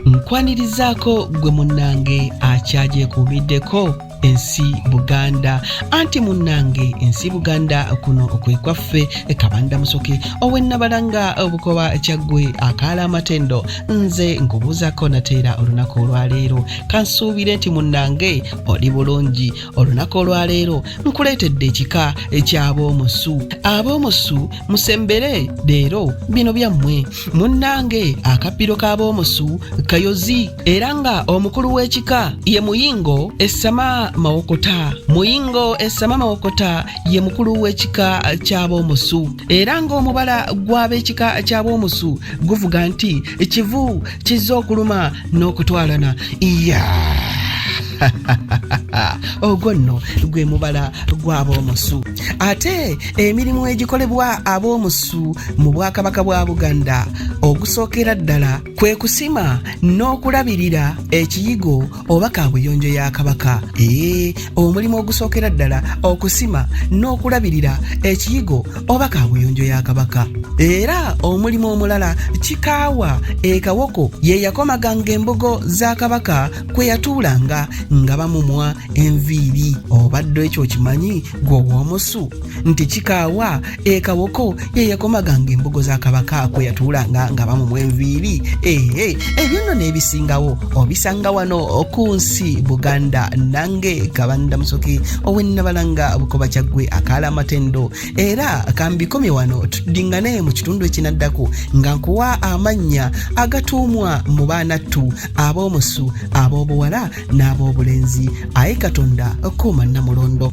nkwanirizaako gwe munnange akyagyekuumiddeko ensi buganda anti munnange ensi buganda kuno kwe kwaffe kabanda musoke owennabalanga obukoba kyaggwe akaala amatendo nze nkubuuzako nateera olunaku olwaleero kansuubire nti munnange oli bulungi olunaku olwaleero nkuleetedde ekika eky'aboomusu aboomusu musembere leero bino byammwe munnange akabbiro k'aboomusu kayozi era nga omukulu w'ekika ye muyingo essama mawokota muyingo essama mawokota ye mukulu w'ekika ky'aboomusu era ng'omubala gw'ab'ekika ky'aboomusu guvuga nti kivu kizza okuluma n'okutwalana iya yeah. ogwo nno gwe mubala gw'ab'omusu ate emirimu egikolebwa ab'omusu mu bwakabaka bwa buganda ogusookera ddala kwe kusima n'okulabirira ekiyigo oba kaabuyonjo ya kabaka ee omulimu ogusookera ddala okusima n'okulabirira ekiyigo oba kaabuyonjo ya kabaka era omulimu omulala kikaawa ekawoko ye yakomaganga embugo za kabaka kwe yatuulanga nga bamumwa enviiri obadde ekyo okimanyi gwe ow'omusu nti kikaawa ekawoko ye yakomaganga embugo za kabaka kwe yatuulanga nga bamumwa enviiri ee ebyo nno n'ebisingawo obisanga wano ku nsi buganda nange kabanda musoke owennabalanga bukoba kyaggwe akaala amatendo era kambikomye wano tudingane mu kitundu ekinaddako nga nkuwa amannya agatuumwa mu baanattu ab'omusu ab'obuwala n'ab'obulenzi aye katonda kuuma namulondo